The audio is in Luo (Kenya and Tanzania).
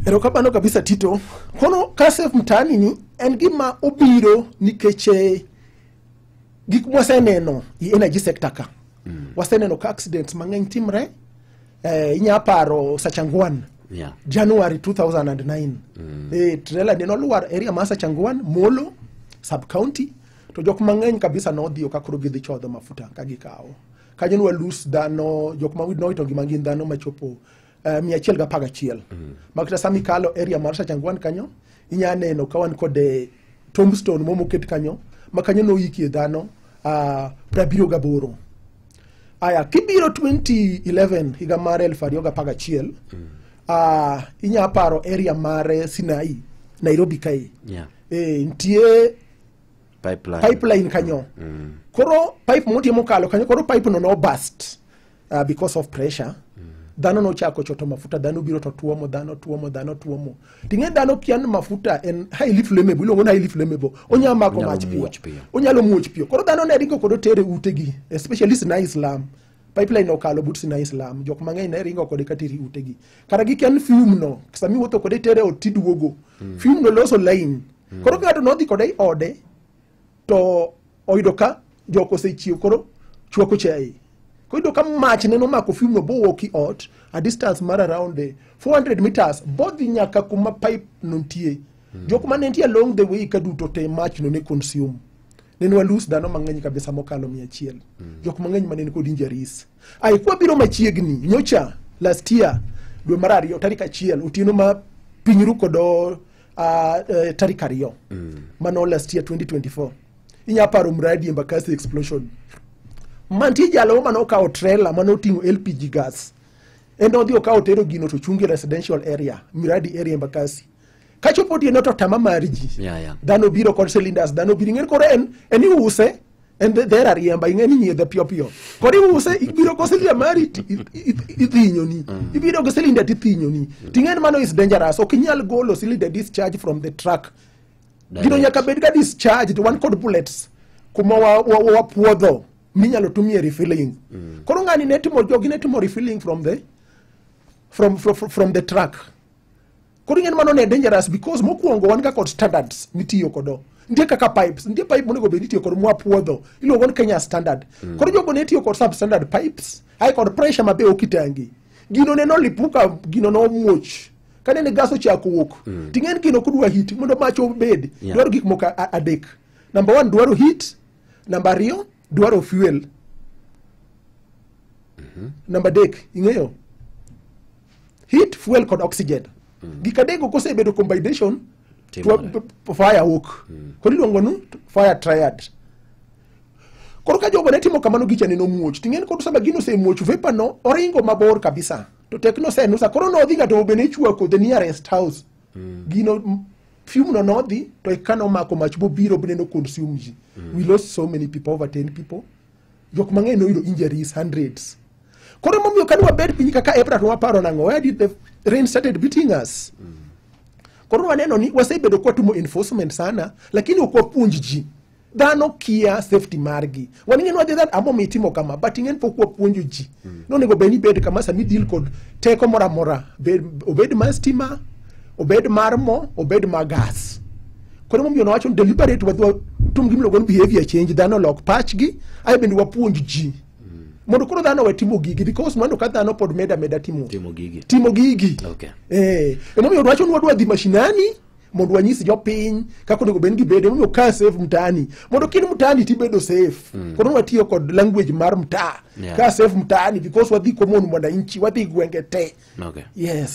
erokamano kabisa tito kono kasef mtaani ni en gima obiro nikech eh, gik mwaseneno i energy sector ka mm. waseneno ka accidents mang'eny timre eh, inya paro sachangwan Yeah. january 2009 mm. eh, trela ne nolwar area ma sachangwan molo sub county to jok mang'eny kabisa nodhiyo ka koro gidhi chodho mafuta ka gikawo kanyo nwa lus dhano jok ma noito ngima gin dhano machopo eh, mia achiel gapar gachiel ma kata sama ikalo area mar Sachangwan kanyo inya neno ka wan kod eh, tombstone moro moket kanyo ma kanyo noyikie dhano ah, prabiriyo gaboro aya kibiro 2011 higa mar elfu ariyo gapar gachiel ah, inya paro area mar eh, Sinai Nairobi kae Yeah. eh, nitie Pipeline. pipeline kanyo koro pipe motie mokalo kanyo koro pipe no nobust uh, because of pressure dhano nochako choto mafuta dhano biro to tuomo dhano tuomo dhano tuomo ting'e dhano kian mafuta en highly flammable iluongo ni highly flammable onyalo mako Onyalo mach piyo muoch piyo. onyalo muoch piyo koro dhano ne ringo kod otere utegi especially Sinai Islam pipeline okalo but Sinai Islam jok mang'eny ne ringo kode kateri utegi kara gi kian fume no sami wuotho kode tere ot tiduogo fume no loso line koro ka ng'ato nodhi kode i ode to oyudo ka jok osechiew koro chwako chai koyudo ka mach neno mako fiumno bowuok i ot a distance mar around the 400 meters bodhi nyaka kuma pipe no nitie jok ma ne nitie along the way ka duto te mach no ne consume nene walus dhano mang'eny kabisa mokalo mia achiel jok mang'eny ma nene kod injuries ai kwa biro machiegni nyocha last year dwe mar ariyo tarik achiel otieno ma piny ru kodo uh, uh, tarik ariyo mm. mano last year 2024 inya paro mradi embakasi explosion mantie jalo mane okawo trela mane oting'o lpg gas en odhi okawo tero gino to chungi residential area miradi area embakasi kachopo tieno to tama mar ji Yeah, yeah. dhano biro kod cylinders dhano biro ing'eni koro en en iuse en be dhera riemba ing'e ni nyiedhe piyo piyo kod iuse ibiro go silia mari ti- i- i- i- ithinyoni ibiro go silinda tithinyoni ting'e ni mano is dangerous ok inyal golo silinda discharge from the truck gino Direct. nyaka bed ga discharged wan kod bullets kuma wa- wa- wa- wapuodho minyalo tumie refilling koro ng'ani ne timo jogi ne timo refilling from the from, from, from the truck koro ing'eni mano ne dangerous because mokwongo wan ga kod standards mitiyo kodo nitie kaka pipes nitie pipe monego bed itiyo kod mwapuodho iluongo ni kenya standard mm. koro jogo ne tiyo kod substandard pipes ae kod pressure mabe ok itangi gino ne nolipuka gino nomuoch kane ne gas ochako wuok mm. ting'eni gino kudwa hit mondo mach obed yeah. dwaro gik moko adek number one dwaro hit number ariyo dwaro fuel mm -hmm. number dek ing'eyo heat fuel kod oxygen mm. gik adego kosebedo combination to fire wuok mm. koro iluongo nu fire triad koro ka jogo ne timo kamano gicha ne nomuoch ting'eni kod sama gino osemuoch vapor no oringo mabor kabisa to tekno senusa koro nodhi ga to bene ichwako the nearest house mm. gino fume no nodhi to eka nomako mach bobiro bende no consume ji mm. we lost so many people over 10 people jok mang'eny noyudo injuries hundreds koro emomiyo kane wabed piny kaka April to waparo nang'o where did the rain started beating us koro waneno ni wasebedo kwatumo enforcement sana lakini ok wapuonj ji dhano kia safety margi waning'e ni wadhi dhano amomi itimo kama but ing'e ni pok wapuonjo ji mm. nonego bed ni bed kama sami deal kod teko moro amora obed mar stima obed mar mo obed mar gas koro momiyo nowacho ni deliberate wadwa tum gimiluongo ni behavior change dhano lok pachgi ae bende wapuonj ji mm. mondo koro dhano we timo gigi because mano ka dhano pod meda meda timo timo gigi timo gigi okay. eh, emomiyo wacho ni wadwa dhi mashinani mondo wanyis jopiny kaka onego bed gibede mondo ka safe mtaani mondo kin mtaani tibedo safe mm. koro watiyo kod language mar mtaa yeah. ka safe mtaani because wadhi komon mwananchi wadhi gwenge te okay. yes